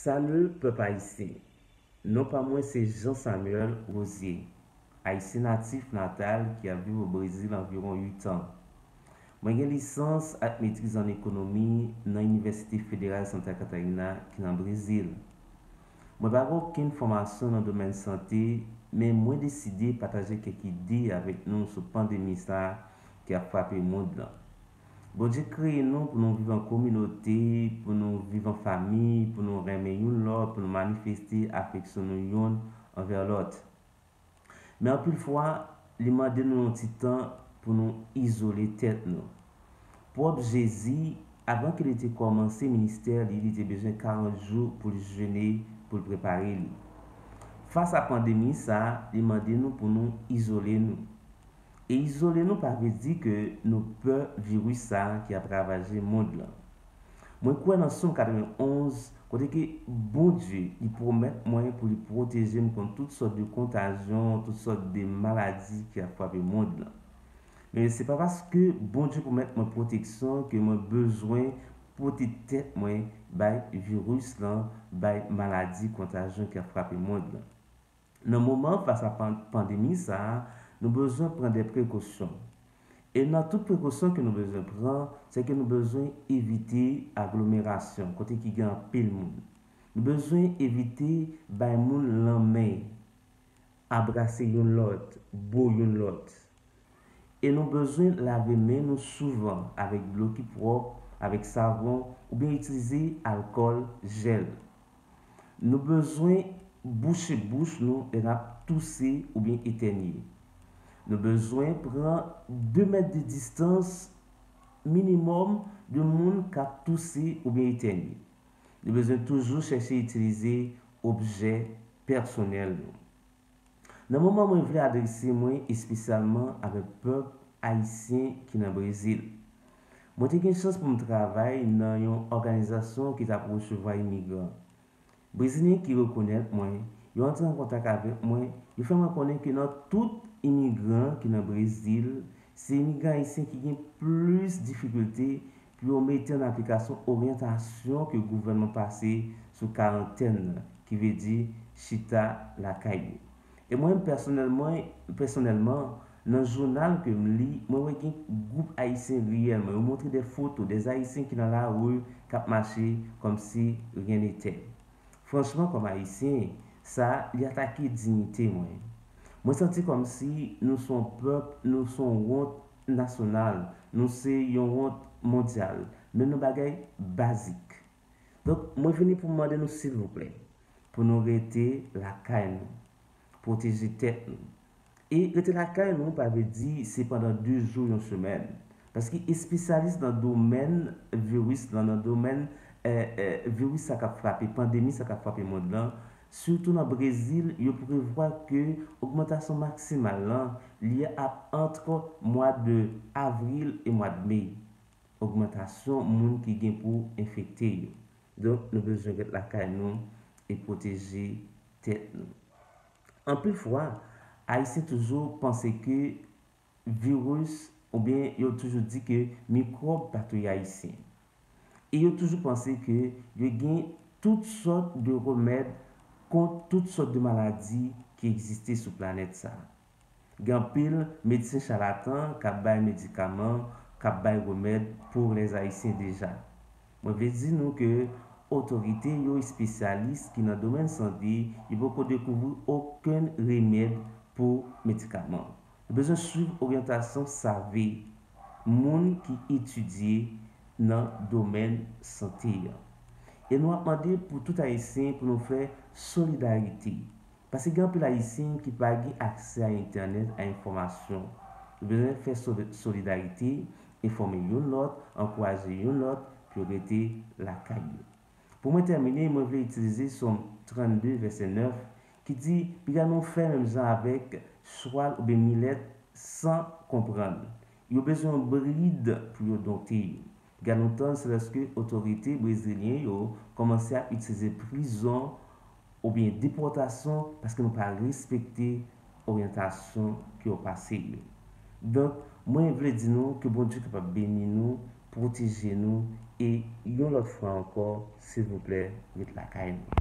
Salut pèp ayisyen! Non pa mwen se Jean Samuel Rosier, ayisyen natif natal ki ap viv o Brezil anviwon 8 an. Mwen gen lisans ak metriz an ekonomi nan Inivèsite Federal Santa Catarina ki nan Brezil. Mwen pa gen okenn fòmasyon nan domèn sante men mwen deside pataje kèk ide avèk nou sou pandemi sa ki ap frape mond lan. Bondye kreye nou pou nou viv an kominote, pou nou viv an fami, pou nou renmen youn lòt, pou nou manifeste afeksyon nou youn anvè lòt. Men anpil fwa, li mande nou yon ti tan pou nou izole tèt nou. Pwòp Jezi, avan ke li te kòmanse ministè li, li te bezwen 40 jou pou l jene pou l prepare li. Fas a pandemi sa, li mande nou pou nou izole nou. E izole nou pa vle di ke nou pè viris sa ki ap ravaje mond lan. Mwen kwè nan Som 91 kote ke Bondye li pwomèt mwen pou li pwoteje m kont tout sòt de kontajyon, tout sòt de maladi ki ap frape mond lan. Men se pa paske Bondye pwomèt mwen pwoteksyon ke mwen bezwen pote tèt mwen bay viris lan, bay maladi kontajyon ki ap frape mond lan. Nan moman fas a pandemi sa, nou bezwen pran de prekosyon. E nan tout prekosyon ke nou bezwen pran, se ke nou bezwen evite aglomerasyon, kote ki gen anpil moun. Nou bezwen evite bay moun lanmen, abrase youn lòt, bo youn lòt. E nou bezwen lave men nou souvan avèk dlo ki pwòp, avèk savon, oubyen itilize alkòl, jèl. Nou bezwen bouche bouch nou lè n ap touse oubyen etènye. Nou bezwen pran 2 mèt de distans minimòm de moun k ap touse oubyen etènye. Nou bezwen toujou chèche itilize objè pèsonèl nou. Nan moman mwen vle adrese mwen espesyalman avèk pèp ayisyen ki nan Brezil. Mwen te gen chans pou m travay nan yon òganizasyon ki t ap resevwa imigran. Brezilyen ki rekonèt mwen, yo antre an kontak avèk mwen, yo fè mwen konnen ke nan tout imigran ki nan Brezil, se imigran ayisyen ki gen plis difikilte pou yo mete an aplikasyon oryantasyon ke gouvènman pase sou karantèn nan, ki vle di chita lakay yo. E mwen menm pèsonèlman, pèsonèlman, nan jounal ke m li, mwen wè gen gwoup Ayisyen reyèlman, yo montre dè foto dè Ayisyen ki nan lari k ap mache kòm si ryen netè. Franchman kòm Ayisyen, sa a, li atake dignite mwen. Mwen santi kòm si nou s on pèp, nou s on wont, nasyonal nou se yon wont mondyal men nou bagay bazik donk mwen vini pou m mande nou silvouplè pou nou rete lakay nou pwoteje tèt nou e rete lakay nou pa vle di se pandan 2 jou yon semèn paske espesyalis nan domèn viris lan nan domèn viris sa k ap frape pandemi sa k ap frape mond lan Sitou nan Brezil, yo prevwa ke ogmantasyon maksimal lan li ap antre mwa de avril e mwa de me. Ogmantasyon moun ki gen pou enfekte yo. Donk nou bezwen ret lakay nou e pwoteje tèt nou. Anpil fwa, Ayisyen toujou panse ke. Virus oubyen yo toujou di ke mikwòb pa touye Ayisyen. E yo toujou panse ke yo gen tout sòt de remèd kont tout sòt de maladi ki egziste sou planèt sa. Gen anpil medsen chalatan k ap bay medikaman, k ap bay remèd pou lèzayisyen deja. Mwen vle di nou ke otorite yo, espesyalis ki nan domèn sante, yo poko dekouvri okenn remèd pou medikaman. Yo bezwen swiv oryantasyon save moun ki etidye nan domèn sante an. E nou ap mande pou tout Ayisyen pou nou fè solidarite. Pase gen anpil Ayisyen ki pa gen aksè a entènèt, a enfòmasyon. Nou bezwen fè solidarite, enfòme youn lòt, ankouraje youn lòt pou yo rete lakay yo. Pou mwen tèmine, mwen vle itilize Sòm 32, vèsè 9, ki di, Piga nou fè menm jan avèk chwal oubyen milèt san konprann. Yo bezwen yon brid pou yo dompte yo. Piga nou tann se lèske otorite brezilyen yo kòmanse ap itilize prizon oubyen depòtasyon paske nou pa respekte oryantasyon ke yo pase yo. Donk, mwen vle di nou ke Bondye kapab beni nou, pwoteje nou e yon lòt fwa ankò, silvouplè ret lakay nou.